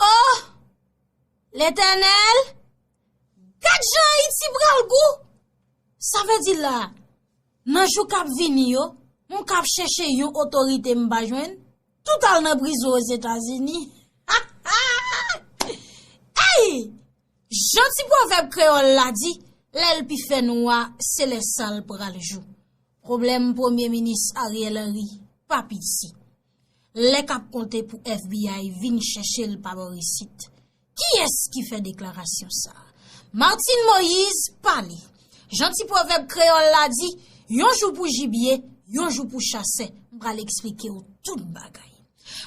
Oh! Letènèl! Gad jan Ayiti pral gou! Sa vle di la, nan jou k ap vini yo, m k ap chèche yon otorite m pa jwenn, tout al nan prizo Ozetazini. Ha! Ha! Ey! Jan ti pwovèb kreyòl la di, lè l pi fè nwa, se lè sa l pral jou. Pwoblèm Premye Minis Ariel Henry pa p isi. Lè kap konte pou FBI vin chèche l pa bò isit. Kiyès ki fè deklarasyon sa? Martine Moïse pale. Jan ti pwovèb kreyòl la di, yon jou pou jibye, yon jou pou chasè. M pral eksplike w tout bagay.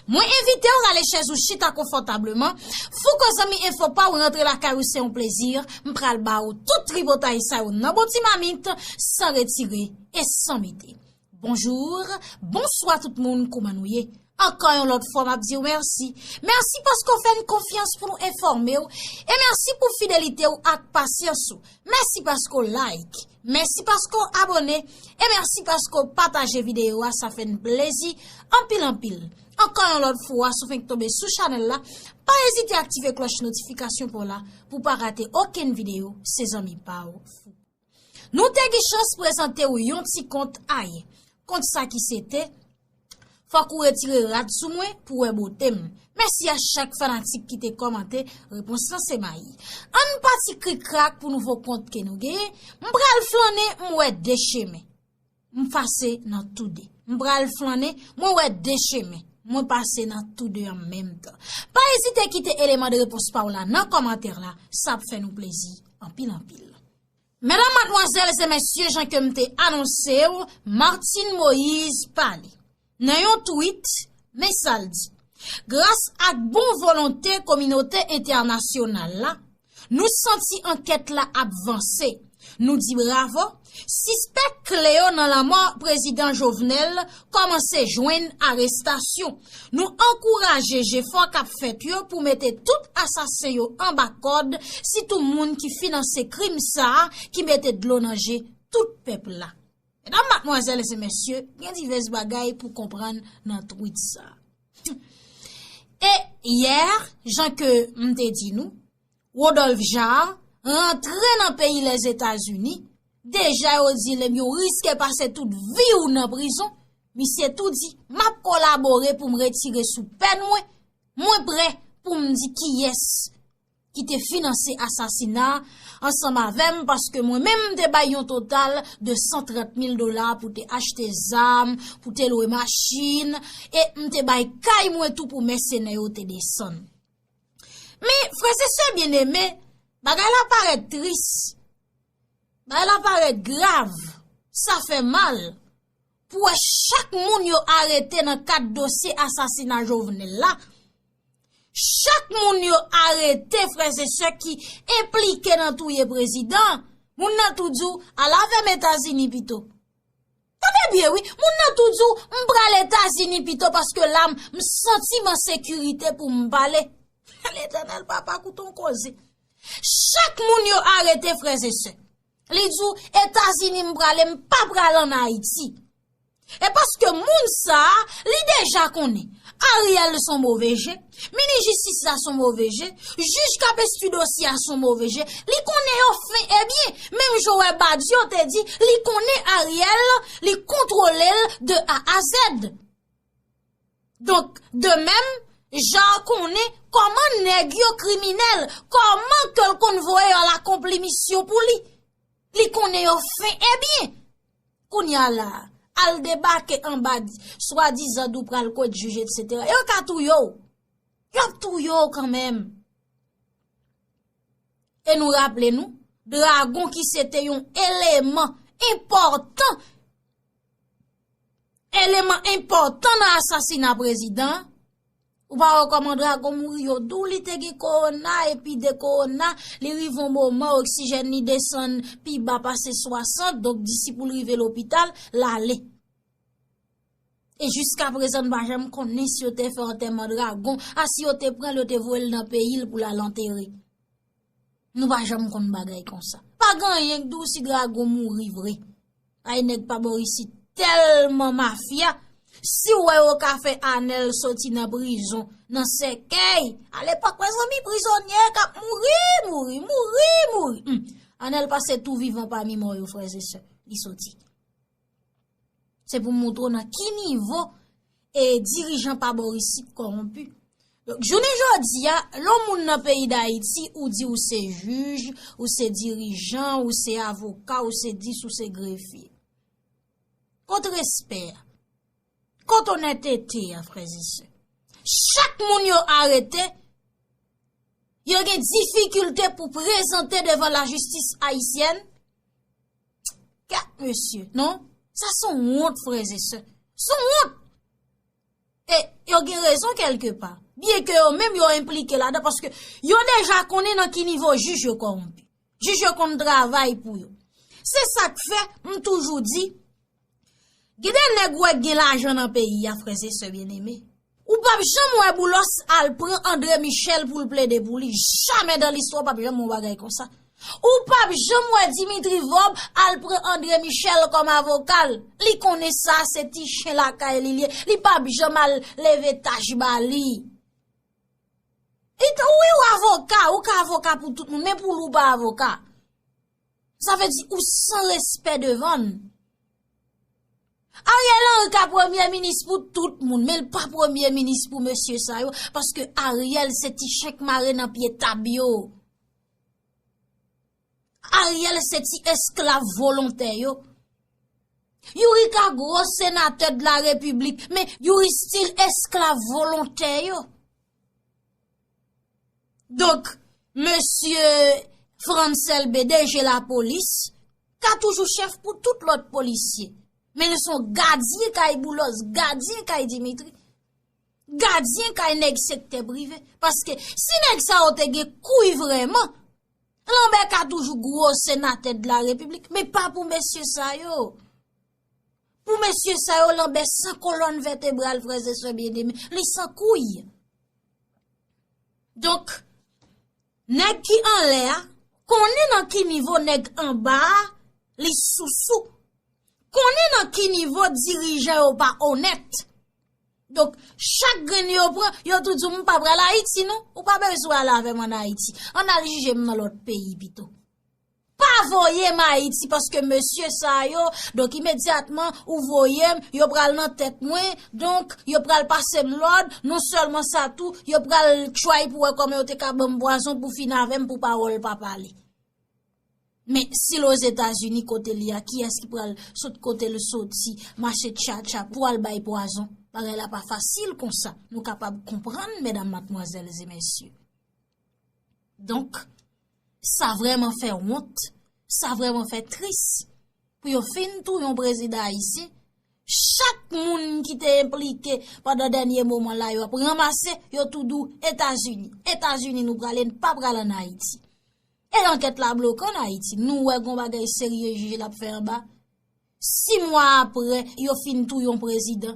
Mwen envite w rale chèz ou chita konfòtableman. Fouco zanmi enfo pa w rantre lakay ou se yon plezi. M pral ba w tout tripotay sa yo nan bon ti mamit, san retire e san mete. Bonjour, bonswa tout moun kouman nou ye? Ankò yon lòt fwa map diw mèsi. Mèsi paske w fè n konfyans pou nou enfòme w e mèsi pou fidelite w ak pasyans ou. Mèsi paske w like, mèsi paske w abone e mèsi paske w pataje videyo a sa fè n plezi anpil anpil. Ankò yon lòt fwa si w fenk tonbe sou chanèl la pa ezite aktive klòch notifikasyon pou w la pou w pa rate okenn videyo se zanmi pa w Fouco. Nou te gen chans prezante ou yon ti kont ay. Kont sa ki se te, Fòk ou retire rad sou mwen pou wè bote m. Mèsi a chak fanatik ki te kòmante, repons lan se mayi. An n pati krik krak pou nouvo kont ke nou genyen, M pral flannen m wè de chemen. M pase nan tou de. M pral flannen, mwen wè de chemen. Mwen pase nan tou de an menm tan. Pa ezite kite eleman de repons pa w la nan kòmantè la, sa ap fè nou plezi anpil anpil. Medam, madmwazèl e mesye jan ke m te anonse w, Martine Moïse pale. Nan yon tweet, men sa l di, Gras ak bon volonte kominote entènasyonal la, nou santi ankèt la ap vanse. Nou di bravo, sispèk kle yo nan lanmò Prezidan Jovenel kòmanse jwenn arestasyon. Nou ankouraje jefò k ap fèt yo pou mete tout asasen yo anba kòd, sitou moun ki finanse krim sa a ki mete dlo nan je tout pèp la. Medam, matmwazèl e se mesye, gen divès bagay pou konprann nan twit sa. E, yè, jan ke m te di nou, Rodolphe Jaar, rantre nan peyi Lèzetazini, deja yo di l, ebyen ou riske pase tout vi ou nan prizon, misye tou di, m ap kolabore pou m retire sou pèn mwen, mwen pre pou m di kiyès. ki te finanse asasina ansanm avè m paske mwen menm m te bay yon total de 130 mil dola pou te achte zam, pou te lwe machin, e m te bay kay mwen tou pou mèsenè yo te desann. Men, frèse sè byeneme, bagay la parèt tris, bagay la parèt grav, sa fè mal. pou wè chak moun yo arete nan kad dosye asasina Jovenel la, chak moun yo arete freze se ki implike nan touye prezidan, moun nan tou di w al avèm Etazini pito. Tande byen wi, moun nan tou di w m pral Etazini pito paske la m santi m an sekirite pou m pale. Letènèl papa kouton koze. Chak moun yo arete freze se. Li di w Etazini m prale m pa pral an Ayiti. E paske moun sa a li deja konnen. Ariel son move je, mini jistis la son move je, jij kap estu dosye a son move je, li konnen yo fen e byen. Menm jan w wè Badio te di li konnen Ariel li kontwole l de A a Z. Donk, de mèm, Jan konnen, kòman nèg yo kriminèl, kòman ke l konn voye yo al akonpli misyon pou li, li konnen yo fen, e byen, kounye a la, al debake anba di, swa dizan dou pral kòd jij et setera, yo ka touye yo, yo ap touye yo kan mèm. E nou raple nou, dragon ki se te yon eleman, enpòtan, Eleman enpòtan nan asasina prezidan an, ou pa wè kòman drago mouri yo di w li te gen kowona epi de kowona li rive yon moman oksijèn li desann pi ba pase 60 donk disi pou l rive lopital l ale. E jiska prezan n pa janm konnen si yo te fè antèman drago a si yo te pran l yo te voye l nan peyi l pou l al antere. Nou pa janm konn bagay konsa. Pa gen anyen k di w si dragon mouri vre. Ay nèg pa bò isit tèlman mafya. Si w wè yo ka fè Anèl soti nan prizon, nan sèkèy. A lepòk mezanmi prizonye k ap mouri, mouri, mouri, mouri. Anèl pase tou vivan pami mò yo frèzesè. Li soti. Se pou moutre w nan ki nivo e dirijan pa bo isit koronpi. Donk, jounen jodi a, lon moun nan peyi d'Ayiti ou di ou se jij, ou se dirijan, ou se avoka, ou se dis, ou se grefi. Kont respè a. Kot onètete a frèze sè. Chak moun yo arete, yo gen difikilte pou prezante devan la jistis ayisyèn. Kat mesye, non? Sa son wont frèze sè. Son wont! E yo gen rezon kelke pa. Byen ke yo menm yo implike la de paske yo deja konnen nan ki nivo jij yo kowonpi. Jij yo konn travay pou yo. Se sak fe, m toujou di. Gen de nèg wè gen lajan nan peyi a frè se sè byen eme. Ou pap janm wè boulos al pran andre michel poul plede pou li jamè dan listwa ou pap janm wè yon bagay konsa. Ou pap janm wè dimitri vob al pran andre michel kom avokal li konnen sa se ti chen lakay li liye li pap janm al leve tach ba li. Wi ou avoka ou ka avoka pou tout moun men pou lou pa avoka. Sa vle di ou san respè devan l. Ariel Henry ka premye minis pou tout moun, men l pa premye minis pou mesye sa yo, paske Ariel se ti chen k mare nan pye tab yo. Ariel se ti esklav volontè yo. Youri ka gwo senatè de la republik, men youri stil esklav volontè yo. Donk, mesye Frantz Elbe, deje lapolis, ka toujou chèf pou tout lòt polisye. Men li son gadyen kay Boulos, gadyen kay Dimitri, gadyen kay nèg sektè prive. Paske, si nèg sa yo te gen kouy vreman, lanbe ka toujou gwo senatè de la repiblik, men pa pou mesye sa yo. Pou mesye sa yo lanbe san kolòn vètebral freze swe byeneme, li san kouy. Donk, nèg ki anle a, konnen nan ki nivo nèg anba a, li sousou. Konnen nan ki nivo dirijan yo pa onèt. Donk, chak grenn yo pran, yo tou di m pa pral Ayiti non, ou pa bezwen ale avè m an Ayiti. An al jije m nan lòt peyi pito. Pa voye m ayiti paske mesye sa yo donk imedyatman ou voye m yo pral nan tèt mwen donk yo pral pase m lòd non sèlman sa tou yo pral tchay pou wè kòman yo te ka ban m pwazon pou fin avè m pou pawòl pa pale men si l ozetazini kote li a kiyès ki pral sot kote l soti mache tcha tcha pou al bay pwazon bagay la pa fasil konsa nou kapab konprann medam matmwazèl e mesye donk. Sa vrèman fè wont, sa vrèman fè tris pou yo fin touye yon prezidan ayisyen, chak moun ki te enplike pandan dènye moman la yo ap ranmase yo tou dou Etazini, Etazini nou prale n pa pral an Ayiti. E ankèt la bloke an Ayiti, nou wè gon bagay serye jij la ap fè anba, 6 mwa apre yo fin touye yon prezidan,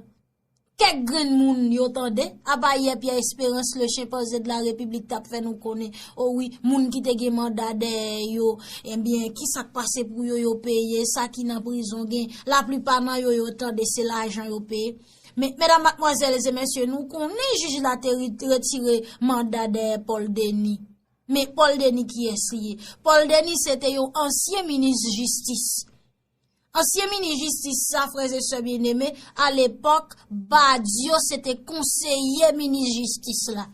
Kèk grenn moun yo tande, apa yè Pierre Espérance le chimpanzé de la République t ap fè nou konnen, o wi, moun ki te gen manda dèyè yo, enben, ki sa k pase pou yo, yo peye, sa ki nan prizon gen, laplipa nan yo, yo tande se lajan yo peye. Men, medam, matmwazèl e mesye, nou konnen jij la te retire manda dèyè Paul Denis. Men, Paul Denis kiyès li ye? Paul Denis se te yon ansyen minis jistis. Ansyen minis jistis sa frè e sè byeneme a lepòk Badio se te konseye minis jistis la.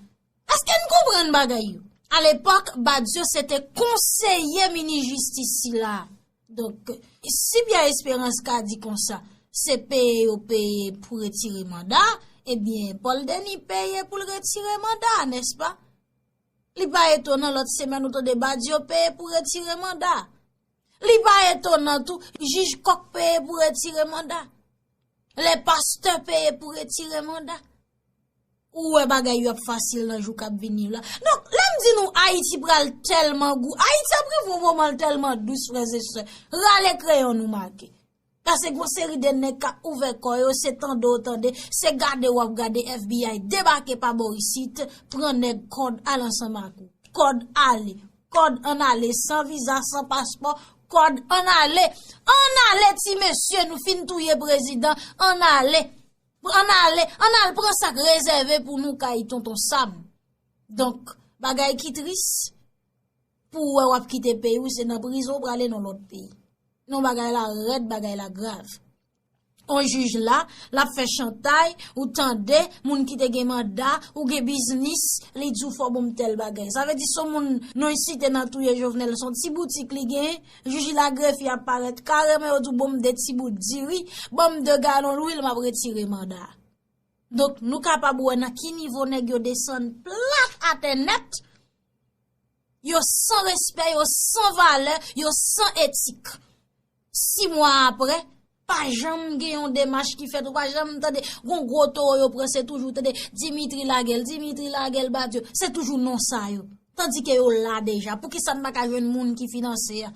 Eske n konprann bagay yo? A lepòk Badio se te konseye minis jistis sila. Donk si Pierre Esperance ka di konsa se peye yo peye pou retire manda ebyen Paul Denis peye pou l retire manda nèspa? Li pa etonan lòt semèn ou tande Badio peye pou retire manda. Li pa etonan tou, jij kòk peye pou retire manda. Lè pastè peye pou retire manda. Ou wè bagay yo ap fasil nan jou kap vini yo la. Non, lè m di nou Ayiti pral tèlman gou, Ayiti ap rive yon moman l tèlman dous frèzesè, rale kreyon nou make. Pase gwo seri de nèg kap ouvè kò yo se tande w tande, se gade w ap gade FBI debake pa bò isit, pran nèg kòd al ansanm ak ou. Kòd ale. Kòd an ale san viza, san paspò, kòd an ale. An ale ti mesye nou fin touye prezidan, an ale. An ale, an al pran sa k rezève pou nou kay tonton Sam. Donk bagay ki tris. Pou ou wè wap kite peyi ou se nan prizon ou prale nan lòt peyi. Non bagay la rèd bagay la grav. On jij la, lap fè chantay, ou tande, moun ki te gen manda, ou gen biznis, li di ou fò bonm tèl bagay. Sa vle di son moun non y site nan touye jovenel son ti boutik li gen, jij la grefi ap parèt kareman yo di ou bonm 2 ti bout diri, bonm 2 galon lwil map retire manda. Donk nou kapab wè nan ki nivo nèg yo desann plat atè nèt Yo san respè, yo san valè, yo san etik. Si mwa apre, pa janm gen yon demach ki fèt, ou pa janm tande, goun gwo towo yo pran, se toujou tande, Dimitri Lagel, Dimitri Lagel, Badio, se toujou non sa yo. Tandike yo la deja, pou ki sa n pa ka jwenn moun ki finanse a?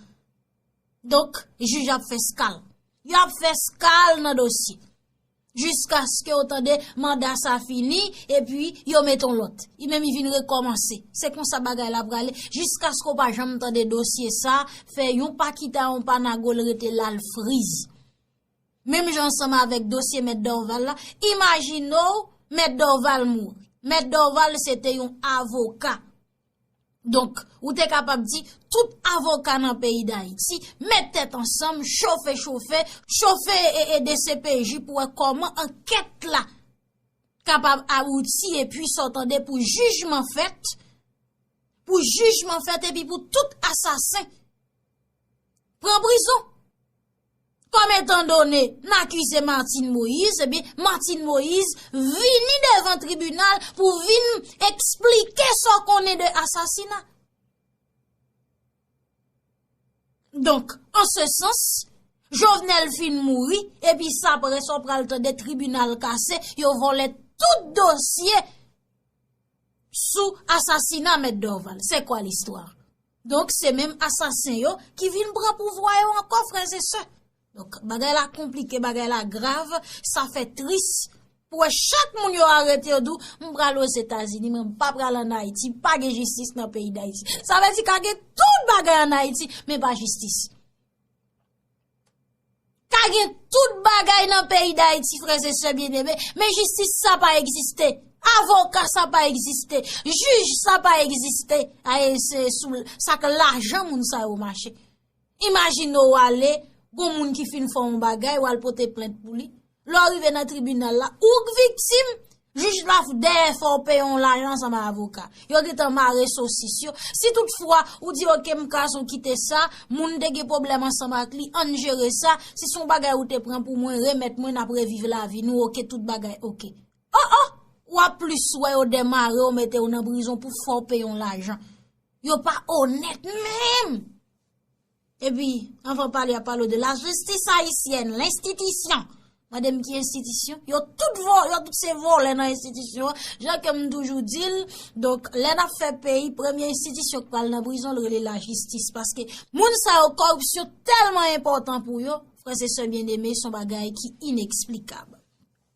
Donk, jij ap fè skal. Yo ap fè skal nan dosye. Jiskaske yo tande manda sa fini, epi yo met on lòt. I menm i vin rekòmanse. Se konsa bagay la prale. Jiskaske ou pa janm tande dosye sa, fè yon pa kita, yon pa nago, l rete la l friz. Menm jan ansanm avèk dosye mèt Dorval la, imajine ou mèt Dorval mouri. Mèt Dorval se te yon avoka. Donk, ou te kapab di, tout avoka nan peyi Dayiti, met tèt ansanm, chofe chofe, chofe ee dcpj pou wè kòman ankèt la kapab abouti e pi sa w tande pou jijman fèt, pou jijman fèt e pi pou tout asasen pran prizon. Kòm etan done, n akize Martine Moïse, e byen Martine Moïse vini devan tribinal pou vin eksplike sa w konnen de asasina. Donk, an se sans, Jovenel fin mouri, e pi sa prè sa w pral tande tribinal kase, yo vòlè tout dosye sou asasina mèt Dorval se kwa listwa donk se menm asasen yo ki vin pran pouvwa yo ankò frèzesè donk bagay la konplike bagay la grav sa fè tris pou wè chak moun yo arete yo dou m pral o zetazini men m pa pral an ayiti pa gen jistis nan peyi dayiti sa vle di ka gen tout bagay an ayiti men pa jistis. Ka gen tout bagay nan peyi dayiti freze se byen ebe, men jistis sa pa egziste, avoka sa pa egziste, jij sa pa egziste, a e se sou sa ke lajan moun sa yo mache. Imajino wale, goun moun ki fin fon bagay, wale pote plent pou li. Lè w rive nan tribinal la, ou k viktim, jij la f dèyè fè w peye yon lajan ansanm ak avoka. Yo gen tan mare sosis yo. Si tout fwa ou di ok m kase w kite sa, moun te gen pwoblèm ansanm ak li, an n jere sa, si son bagay ou te pran pou mwen, remèt mwen n ap reviv lavi nou ok, tout bagay ok. Oh oh! W ap plis wè yo demare w mete w nan prizon pou fè w peye yon lajan. Yo pa onèt menm! Epi, anvan pale a palo de la jistis ayisyèn, lenstitisyon. Mande m ki enstitisyon? Yo tout vo, yo tout se volè nan enstitisyon. Jan ke m toujou di l, donk lè n ap fè peyi, premye enstitisyon k pral nan prizon l rele la jistis. Paske moun sa yo koripsyon tèlman enpòtan pou yo, frè se sè byen eme son bagay ki ineksplikab.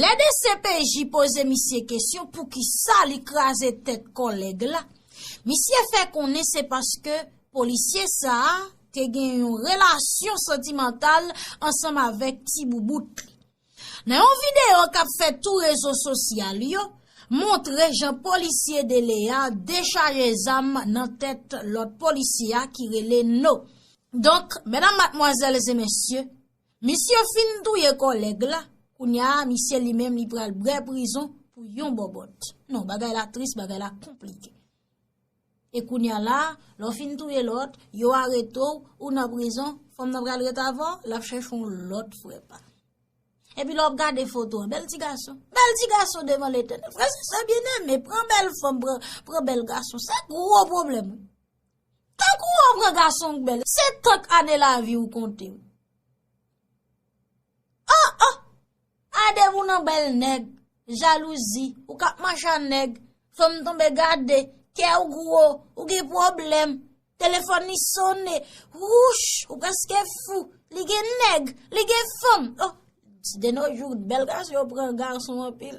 Lè dcpj poze misye kesyon poukisa li kraze tèt kòlèg la, misye fè konnen se paske polisye sa a te gen yon relasyon santimantal ansanm avèk ti boubout li. Nan yon videyo k ap fè tou rezo sosyal yo, montre jan polisye Dele a dechaje zam nan tèt lòt polisye a ki rele No. Donk, medam matmwazèl e mesye, Misye fin touye kòlèg la, kounya a misye li menm li pral brè prizon pou yon bòbòt. Non, bagay la tris, bagay la konplike. E kounya la, lò fin touye lòt, yo arete w, ou nan prizon, fanm nan pral ret avè w, l ap chèche yon lòt frè pa l. Epi lè w ap gade foto an, bèl ti gason. Bèl ti gason devan Letènèl. Frè se sè byeneme, pran bèl fanm, pran bèl gason, se gwo pwoblèm wi. Tank ou an pran gason k bèl. Se tank ane lavi ou konte w. Oh oh! Adem ou nan bèl nèg. Jalouzi, ou kap mache a nèg. Fanm tonbe gade, kè w gwo, ou gen pwoblèm. Telefòn li sone, wouch! Ou preske fou. Li gen nèg, li gen fanm. Oh! Deno jou, bèl gason yo pran gason anpil.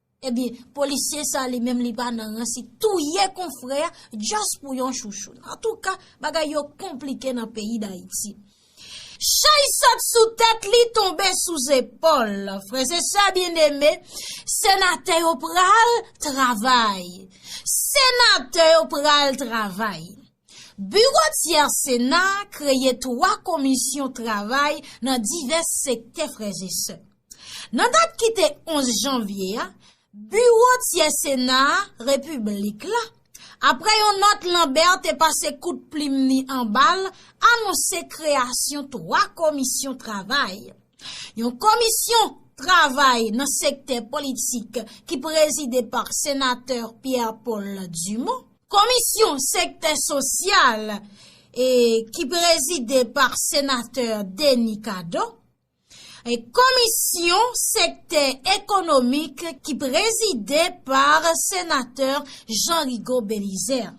Ebyen polisye sa li menm li pa nan ransi touye konfrè just pou yon chouchoun. Antouka bagay yo konplike nan peyi dayiti. Chay sot sou tèt li tonbe sou zepòl. Frèze sè byen eme, senatè yo pral travay. Senatè yo pral travay. Biwo tyers sena a kreye 3 komisyon travay nan divès sektè frèzesè. Nan dat ki te 11 janvye a, biwo tyers sena a repiblik la, apre yon nòt Lambert te pase kout plim ni anba l, anonse kreyasyon 3 komisyon travay. Yon komisyon travay nan sektè politik ki prezide pa senatè Pierre Paul Dumont. Komisyon sektè sosyal e ki prezide pa senatè Denis Cadot. Komisyon sektè ekonomik ki prezide pa senatè Jean Rigaud Belizaire.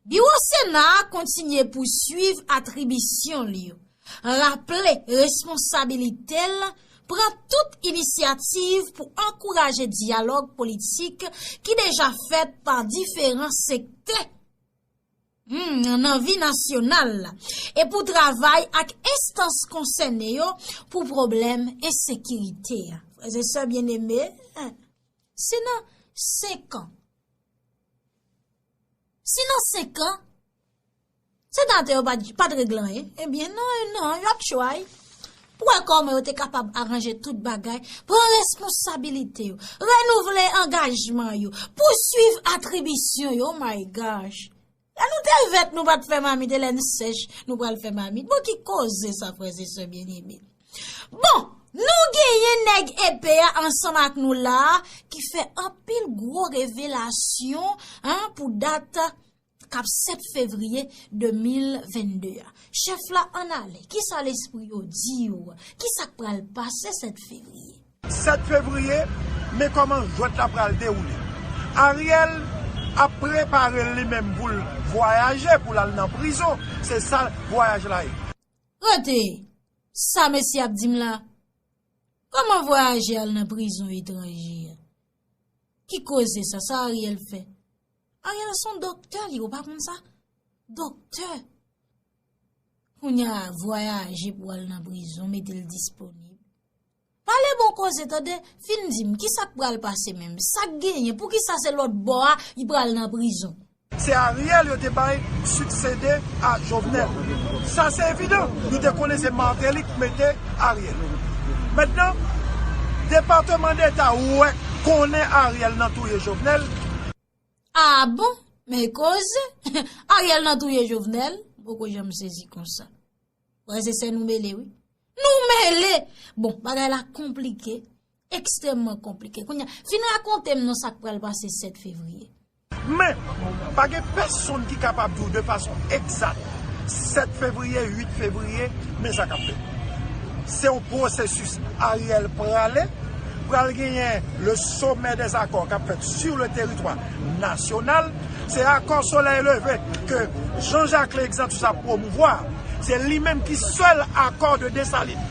Biwo sena a kontinye pousuiv atribisyon li yo. raple responsabilite l pran tout inisyativ pou ankouraje dyalòg politik ki deja fèt pa diferan sektè nan vi nasyonal la e pou travay ak enstans konsène yo pou pwoblèm ensekirite a. Frèz e sè byeneme, si nan senkan, si nan senkan, Senatè yo pa t regle anyen? Ebyen non e non, yo ap tchway pou wè kòman yo te kapab aranje tout bagay, pran responsabilite yo, renouvle angajman yo, pousuiv atribisyon yo, oh my gosh! Lè nou te vèt nou pa t fè mamit e lè n sèch nou pral fè mamit? Bon ki koze sa frèz e sè byeneme? Bon, nou genyen nèg epe a ansanm ak nou la a ki fè anpil gwo revelasyon pou dat kap 7 fevriye 2022 a. Chèf la ann ale, kisa lespri yo di w? Kisa k pral pase 7 fevriye? 7 fevriye, men kòman jwèt la pral dewoule. Ariel ap prepare l li menm pou l vwayaje, pou l al nan prizon, se sa vwayaj la ye. Rete! Sa mesye ap di m la? Kòman vwayaje al nan prizon etranje a? Ki koze sa? Sa Ariel fè? Ariel son doktè li ou pa konn sa? Doktè! Kounya vwayaje pou al nan prizon mete l disponib. Pale bon koze tande, fin di m kisa k pral pase menm? Sa k genyen? Poukisa se lòt bò a li pral nan prizon? Se Ariel yo te bay succede a Jovenel. Sa se evidan. Nou te konnen se Martelly k mete Ariel. Mentnan, departement d'Etat ou wè konnen Ariel nan touye Jovenel. Aa bon, men koze, Ariel nan touye Jovenel, m poko janm sezi konsa. Frè se sè nou mele wi. Nou mele! Bon, bagay la konplike, ekstremman konplike. Kounye, fin rakonte m nan sa k pral pase 7 fevriye. Men, pa gen pèsonn ki kapab di w de fason egzat 7 fevriye, 8 fevriye, men sa k ap fèt. Se yon pwosesis Ariel prale. Pral genyen le sommet des accords kap fèt sur le teritwa nasyonal. Se akò solèy leve ke Jean Jacques le Exantus ap pwomouvwa. Se li menm ki sèl akò de Dessalines.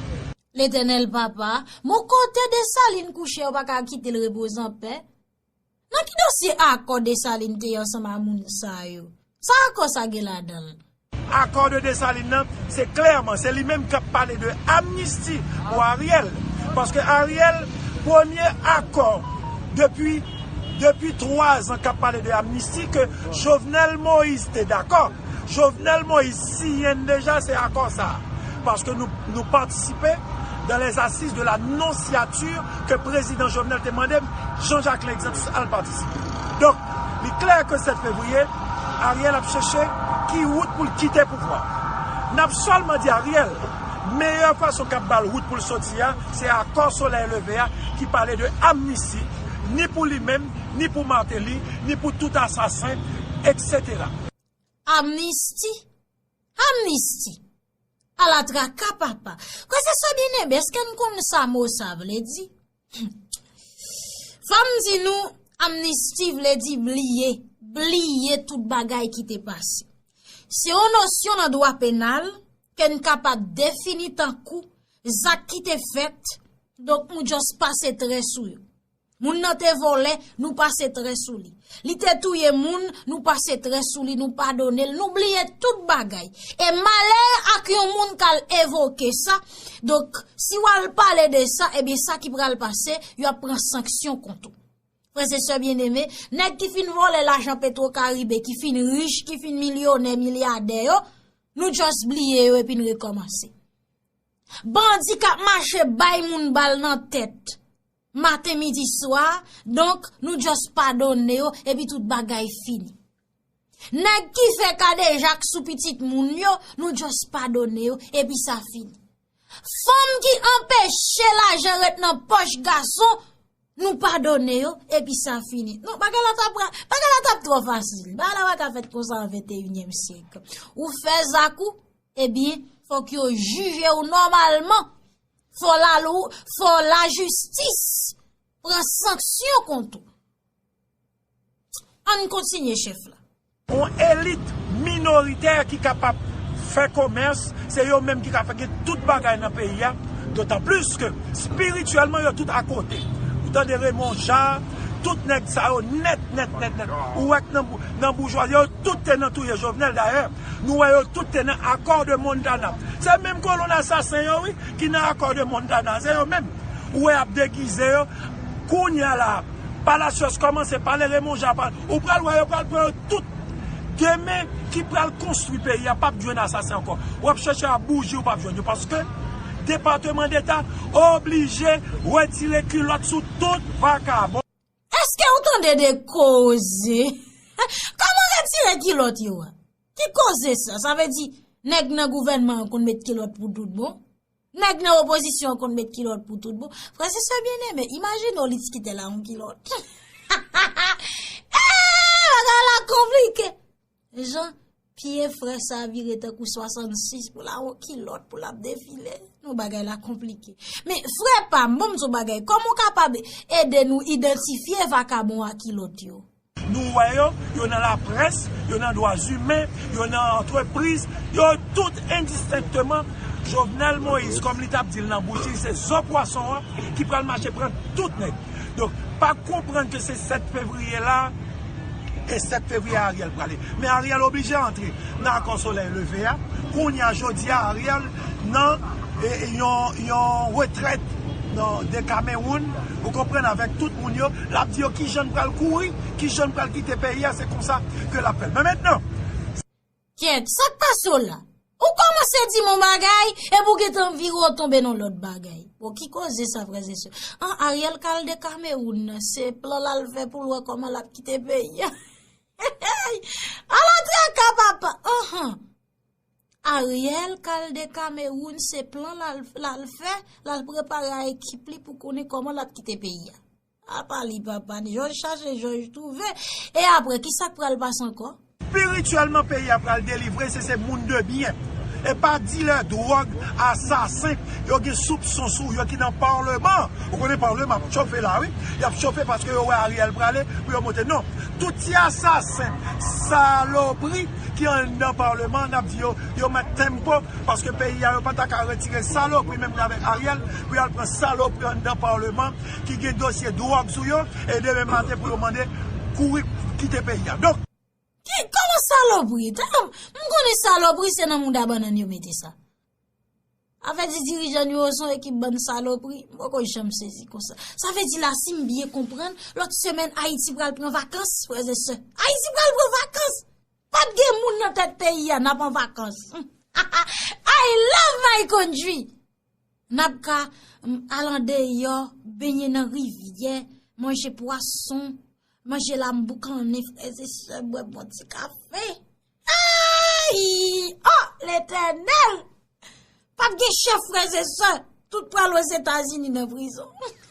Letènèl papa, bon kote Dessalines kouche yo pa ka kite l repoze an pè? Nan ki dosye akò Desalin te ansanm a moun sa yo? Sa akò sa gen ladan l? Akò de Desalin nan, se klèman, se li menm k ap pale de amnisti pou Ariel. Paske Ariel, premye akò depi depi 3 zan k ap pale de amnisti ke Jovenel Moïse te dakò. Jovenel Moïse siyen n deja se akò sa a. Paske nou nou patisipe dan lè asiz de la non siyati. ke Prezidan Jovenel te mande m, Jean Jacques Lexens, al patisipe. Donk, li klè ke 7 fevriye, Ariel ap cheche ki wout pou l kite pouvwa a. N ap sèlman di Ariel, meyè fason k ap ba l wout pou l soti a, se akò solèy leve a ki pale de amnisti, ni pou li menm, ni pou Martelly, ni pou tout asasen, eksetera. Amnisti? Amnisti? Ala traka papa! Kwe se sa byen eme, eske nou konnen sa mo sa vle di? Fò m di nou, amnisti vle di bliye, bliye tout bagay ki te pase. Se yon nosyon nan dwa penal, ke n kapab defini tankou, zak ki te fèt, donk nou just pase trè sou yo. Moun nan te vole, nou pase tre sou li. Li te touye moun, nou pase tre sou li, nou padone l, nou bliye tout bagay. E malè ak yon moun k al evoke sa, donk si w al pale de sa, e bin sa ki pral pase, yo ap pran sanksyon kont ou. Frèze se byen eme, nèk ki fin vole la jan petro karibe, ki fin rich, ki fin milyonè, milyadè yo, nou just bliye yo e pin rekomanse. Bandi kap mache bay moun bal nan tèt. Maten midi swa, donk nou just padone yo epi tout bagay fini. Nèg ki fè kadejak sou pitit moun yo, nou just padone yo epi sa fini. Fanm ki anpeche lajan ret nan poch gason, nou padone yo epi sa fini. Non, bagay la tap, bagay la tap tro fasil. Bagay la baka fèt konsa an 21 èm syèk. Ou fè zak ou, ebyen, fòk yo jije ou nòmalman. Fò la lou, fò la jistis pran sanksyon kont ou. Ann kontinye chèf la. On elit minoritè ki kapab fè komès, se yo menm ki ka fè gen tout bagay nan peyi a, dotan plis ke spirityèlman yo tout akote. Ou tande Raymond Ja, tout nèg sa yo nèt nèt nèt nèt, ou wè k nan boujwa, yo tout te nan touye Jovenel dayè. Nou wè yo tout te nan Accord de Montana. Se menm kolonn asasen yo wi ki nan Accord de Montana. Se yo menm ou wè y ap degize yo. Kounye a la a, Palacios kòmanse pale, Raymond Jean pale. Ou pral wè yo pral pran yo tout. Demen ki pral konstwi peyi a pap jwenn asasen ankò. W ap chèche a bouji ou pap jwenn yo paske Depateman Deta oblije wetire kilòt sou tout vakabon. Eske ou tande de koze? Koman retire kilot yo a? Ki koze sa? Sa ve di, neg nan gouvenman an konn met kilot pou tout bon? Neg nan opozisyon an konn met kilot pou tout bon? Frese se byen eme, imajine ou li tkite la an kilot. Ha ha ha! Eee! Bagay la konplike! Jan pye frè sa vire tankou 66 pou la wè kilòt pou lap defile. Nou bagay la konplike. Men frè pa m, bon m sou bagay, kòman w kapab ede nou idantifye vakabon a kilòt yo? Nou wè yo, yo nan laprès, yo nan dwa zimen, yo nan antrepriz, yo tout endistenkteman, Jovenel Moïse kòm li tap di l nan bouch li se zo pwason an ki pral mache pran tout nèg. Donk pa konprann ke se 7 fevriye la. E 7 fevriye Ariel prale. Men Ariel oblije antre nan akò solèy leve a. Kounye a jodi a Ariel nan yon retrèt nan de Kamewoun. Ou konprann avèk tout moun yo. L ap di yo kijan l pral kouri. Kijan l pral kite peyi a. Se konsa ke l ap fè l. Men mentnan. Kyèt, sa k pase w la? Ou kòmanse di m yon bagay, epi ou gen tan vire w tonbe nan lòt bagay. Bon, ki koze sa frèzesè? An, Ariel ka al de Kamewoun, se plan l al fè pou l wè kòman l ap kite peyi a. Eyy! Ala traka papa! Anhan! Ariel ka al de Kamewoun, se plan l al fè, l al prepare a ekip li pou konnen kòman l ap kite peyi a. Apa li papa n. Jòj chache jòj twouve. E apre, ki sa k pral pase ankò? Spirityèlman peyi a pral delivre si se moun de byen. E pa dilè dwòg, asasen, yo gen soupson sou yo ki nan parleman. Ou konnen parleman ap chofe la wi. Y ap chofe paske yo wè Ariel prale pou yo monte. Non. Tout ti asasen, salopri ki anndan parleman n ap di yo, yo met tempo paske peyi a yo pa ta ka retire salopri menm jan avèk Ariel pou y al pran salopri anndan parleman. ki gen dosye dwòg sou yo e demen maten pou yo mande kouri kite peyi a. Donk. Ki koman salopri. Tanm m konnen salopri se nan mouda bannann yo mete sa. Afè di dirijan nou yo son ekip bann salopri. M poko janm sezi konsa. Sa vle di la si m byen konprann lòt semèn Ayiti pral pran vakans frèz e sè. Ayiti pral pran vakans. Pat gen moun nan tèt peyi a nap an vakans. Hahah I love my country. N ap ka al andeyò, benyen nan rivyè, manje pwason, manje lam boukannen, frè ze sè, bwè bon ti kafe. Eeyi! O! Letènèl! Pap gen chèf frè ze sè, tout pral ozetazini nan prizon.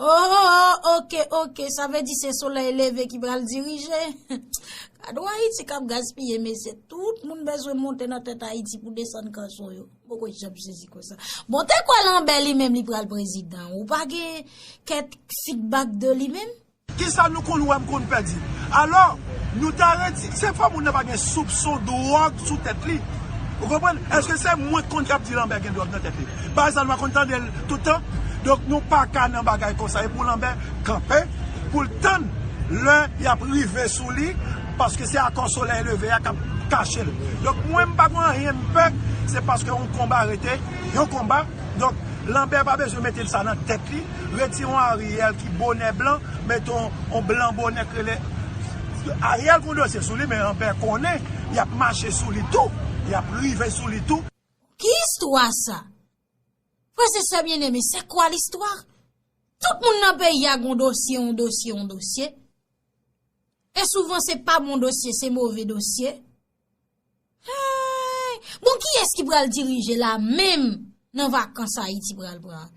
Ooh ok ok sa vle di se solèy leve ki pral dirije Gad yon Ayiti kap gaspiye mesye tout moun bezwen monte nan tèt Ayiti pou desann kanson yo m poko janm sezi konsa bon te kwè lanbè li menm li pral prezidan ou pa gen kèk feedback de li menm? Kisa nou konn wè m konn fè di alò nou ta redi se fò moun nan pa gen soupson dwòg sou tèt li ou konprann èske se mwen k konn kap di lanbè gen dwòg nan tèt li Baz la nou pa konn tandel tout tan donk nou paka nan bagay konsa epou lanbè kanpe poul tann lè yap rive sou li paske se akò solèy leve a kap kachel donk mwen mpa gon anyen mpè se paske yon konba rete yon konba donk lanbè pa bezwen mete sa nan tèt li retire yon ariel ki bonè blan mete yon blan bonè k rele ariel gon dosye sou li men lanbè konnen yap mache sou li tou yap rive sou li tou. Ki istwa sa? Frè se sè byen eme, se kwa listwa? Tout moun nan peyi a gon dosye, yon dosye, yon dosye. E souvan se pa bon dosye, se move dosye. Bon ki es ki pral dirije la menm nan vakans Ayiti pral pran?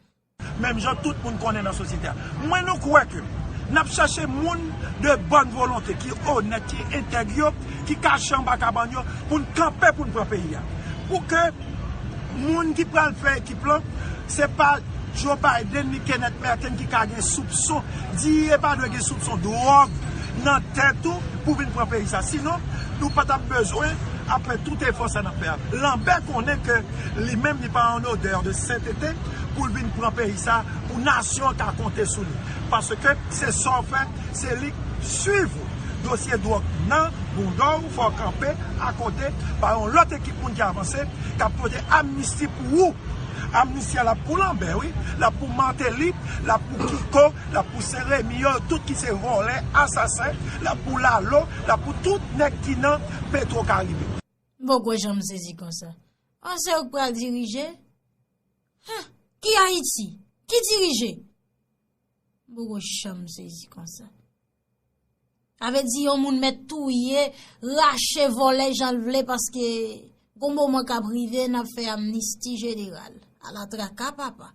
Menm jan tout moun konnen nan sosyete a. Mwen nou kwè ke n ap chache moun de bòn volonte, ki onèt, ki entèg yo, ki kache anba kabann yo, pou n kanpe pou n pran peyi a. Pou ke moun ki pral fè ekip lan, se pa Joe Biden ni Kenneth Merten ki ka gen soupson, diye e pa dwe gen soupson dwòg nan tèt ou pou vin pran peyi sa. Sinon, nou pa t ap bezwen ap fè tout efò sa n ap fè a. Lambert konnen ke li menm li pa an odeur de sentete. pou l vin pran peyi sa pou nasyon an ka konte sou li paske se sa w fè se li k swiv ou dosye dwòg nan bouda w fè w kanpe akote bay yon lòt ekip moun ki avanse k ap pote amnisti pou ou amnisti a l ap pou lanbè wi l ap pou mateli l ap pou kiko l ap pou seremi yo tout ki se vòlè asasen l ap pou lalo l ap pou tout nèg ki nan petwokaribe. M poko janm sezi konsa. An se ou k pral dirije? Huh! Ki Ayiti? Ki dirije? M poko janm sezi konsa. Sa vle di yon moun mèt touye, rache, vole jan l vle paske gon moman k ap rive n ap fè amnisti jeneral. Ala traka papa!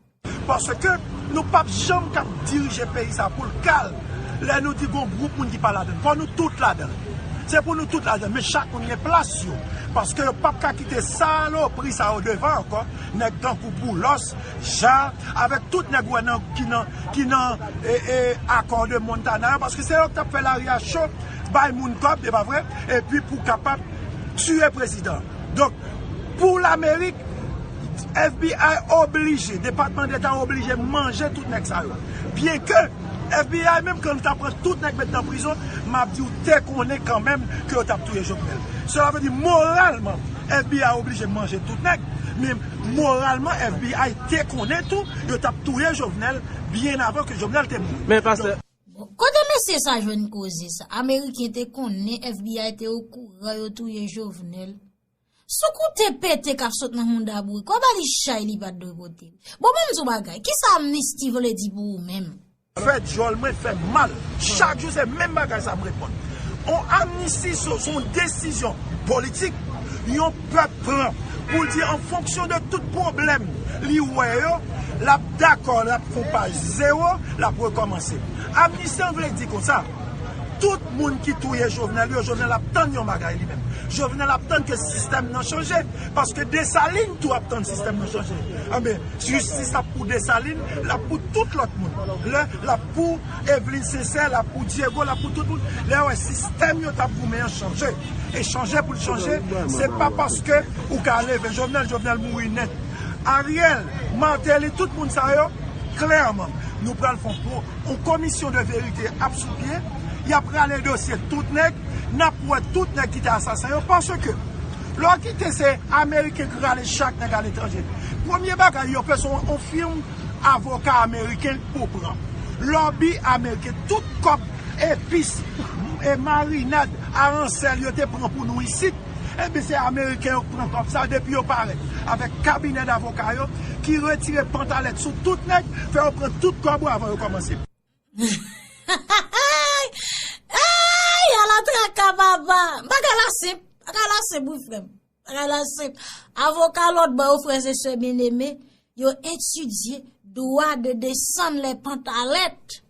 Paske nou p ap janm kab dirije peyi sa pou l kal lè nou di gon gwoup moun ki pa ladan l. Fò nou tout ladan l. Se pou nou tout ladan men chak moun gen plas yo paske yo pap ka kite salopri sa yo devan ankò nèg tankou Boulos, Ja avèk tout nèg ou wè nan ki nan akò de Montana yo paske se yo ki tap fè lari a cho bay moun kòb epa vre epi pou kapab tiye prezidan donk pou lamerik. FBI oblije, depatman deta oblije manje tout nèg sa yo. Byen ke FBI menm kan li ta pran tout nèg met nan prizon, map di ou te konnen kan menm ke yo tap touye Jovenel. Sela vle di moralman FBI oblije manje tout nèg, men moralman FBI te konnen tou yo tap touye Jovenel byen avan ke Jovenel te mouri. Kote mesye sa jwenn koze sa? Ameriken te konnen FBI te okouran yo touye Jovenel? Sou koute pete kap sot nan mouda bouriko ba li chay li pat dwe pote. Bon banm di w bagay, kisa amnisti vle di pou ou menm? Fè dyòl mwen fè m mal. Chak jou se menm bagay sa m reponn. On amnisti se on desizyon politik yon pèp pran pou l di an fonksyon de tout pwoblèm li wè yo, lap dakò, lap konpa zewo, lap rekòmanse. Amnisti an vle di konsa. Tout moun ki touye Jovenel yo, Jovenel ap tann yon bagay li menm. Jovenel ap tann ke sistèm nan chanje. Paske Dessalines tou ap tann sistèm nan chanje. Enben, jistis ap pou Dessalines, l ap pou tout lòt moun. Lè l ap pou Eveline Sincère, l ap pou Diego, l ap pou tout moun. Lè yo wè sistèm yo t ap goumen an chanje. E chanje pou l chanje, se pa paske ou ka leve Jovenel, Jovenel mouri nèt. Ariel, Martelly, tout moun sa yo, klèman, nou pral fon Yon komisyon de verite ap sou pye, yap rale dosye tout nèg, nap wè tout nèg ki te asasen yo, paske lè w kite se ameriken ki rale chak nèg aletranje, premye bagay yo bezwen yon firm avoka ameriken pou pran, lòbi ameriken, tout kòb, epis, marinad, aransèl yo te pran pou nou isit. Ebyen se ameriken yo k pran kòb sa depi yo parèt avèk kabinè davoka yo ki retire pantalèt sou tout nèg fè yo pran tout kòb ou avan yo kòmanse. Eyy ala traka papa bagay la senp bagay la senp wi frem bagay la senp avoka lot bò yo frèz e sè byeneme yo etidye dwa de desann lè pantalèt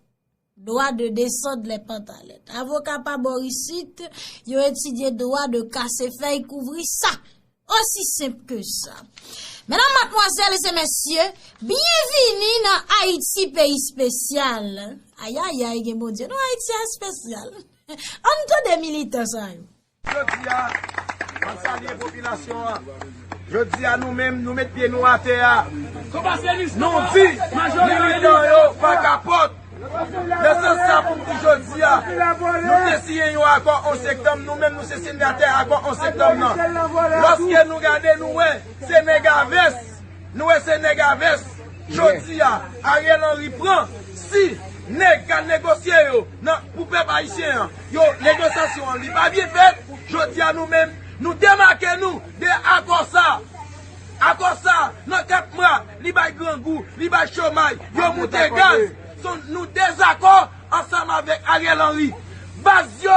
Dwa de desand lè pantalèt. Avoka pa bò isit, yo etidye dwa de kase fèy kouvri sa. Osi senp ke sa. Menan matmwazèl e mèsye, byenvini nan Ayiti peyi spesyal. Ayayay gen Bondye nan Ayiti a spesyal. An tande militan sa yo. Jodi a, map salye popilasyon an. Jodi a nou menm nou met pye nou atè a. Nou di militan yo pa kapòt. Nan sans sa pou m di jodi a, nou te siyen yon akò 11 sektanm, nou menm nou se sinyatè akò 11 sektanm nan. Lòske nou gade nou wè se nèg a vès, nou wè se nèg a vès. Jodi a, Ariel Henry pran si nèg k al negosye yo nan pou pèp ayisyen an. Yo, negosasyon an li pa byen fèt, jodi a nou menm, nou demake nou de akò sa. Akò sa, nan 4 mwa, li bay grangou, li bay chomay, yo moute gaz. So, nou dezakò ansanm avèk Ariel Henry. Baz yo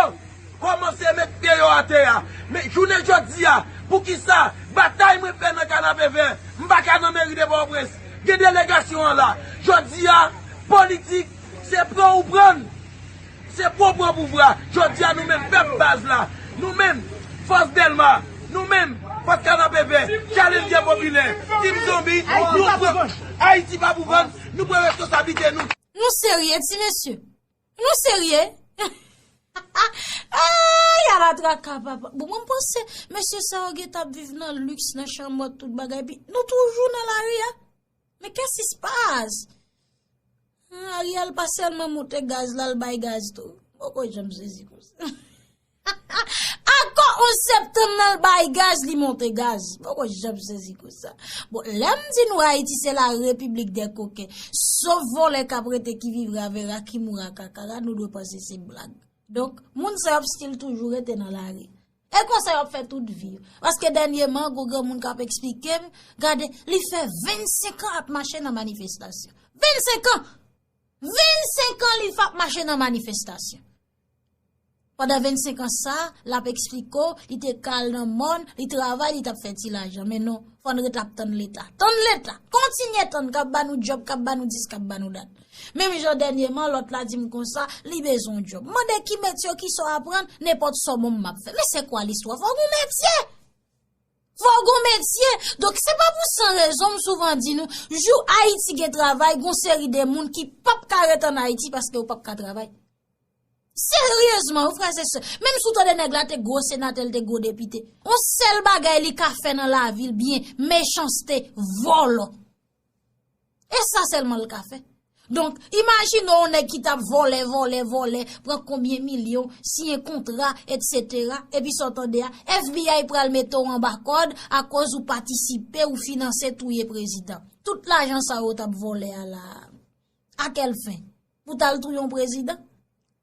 kòmanse met pye yo atè a. Men, jounen jodi a, poukisa batay mwen fè nan Kanapevè, m pa ka nan meri de Pòtoprens, gen delegasyon an la. Jodi a, politik, se pran ou pran. Se pou w pran pouvwa! Jodi a nou menm pèp baz la, nou menm Fòs Dèlma, nou menm Fòs Kanapevè, Challenger Popilè, Team Zonbi, nou pran Ayiti pa pou vann, nou pran reskonsablite nou! Nou serye ti mesye? Nou serye? Ayy ala traka papa! Bon mwen panse mesye sa yo gentan ap viv nan lux, nan chanmòt tout bagay epi nou toujou nan lari a? Men kesis paz! An Ariel pa selman moute gaz la l bay gaz tou. Poko janm sezi konsa. Anko 11 septanm nan l bay gaz li moute gaz. Poko janm sezi konsa. Bon lem di nou Haiti se la repiblik de koken. Sof vole kap rete ki vivre a vera ki moure a kakara nou dwe panse se blag. Donk moun sa yo ap stil toujou rete nan lari. E konsa yo ap fè tout vi. Paske dènye man gwo granmoun kap eksplike m, gade li fè 25 an ap mache nan manifestasyon. 25 an! 25 an li fap mache nan manifestasyon. Pandan 25 an sa, lap eksplike w, li te kal nan mòn, li travay, li tap fè ti lajan. Men non, fòn ret ap tann leta. Tann leta! Kontinye tann kap banou djòb, kap banou dis, kap banou dat. Menm jan dènyeman lòt la di m konsa, li bezwen yon djòb. M mande ki metye ou, ki sa w aprann, nenpòt sa w ban m m ap fè. Men se kwa listwa? Fò w gen yon metye! Fò w gen yon metye! Donk se pa pou san rezon m souvan di nou, jou Ayiti gen travay, gen yon seri de moun ki p ap ka ret ann Ayiti paske yo p ap ka travay. Seryezman wi frèz e sè, menm si w tande nèg la te gwo senatè, li te gwo depite, yon sèl bagay li ka fè nan lavi l byen, mechanste, vòlò. E sa sèlman l ka fè. Donk, imajine yon nèg ki tap vòlè, vòlè, vòlè, pran konbyen milyon, siyen kontra, etsetera, epi sa w tande a, FBI pral mete w anba kòd akoz ou patisipe ou finanse touye prezidan. Tout lajan sa yo tap vòlè a la, a kèl fen? Pou tal touye yon prezidan?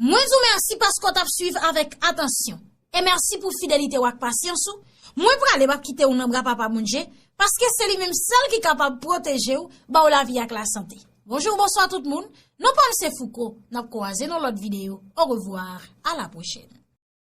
Mwen di w mèsi paske w t ap suiv avèk atansyon. E mèsi pou fidelite w ak pasyans ou. Mwen prale m ap kite w nan bra Papa Bondje, paske se li menm sèl ki kapab pwoteje w, ba w lavi ak lasante. Bonjou, bonswa tout moun. Non pa m se Fouco. N ap kwoaze nan lòt videyo. Orevwa, a la pwochèn.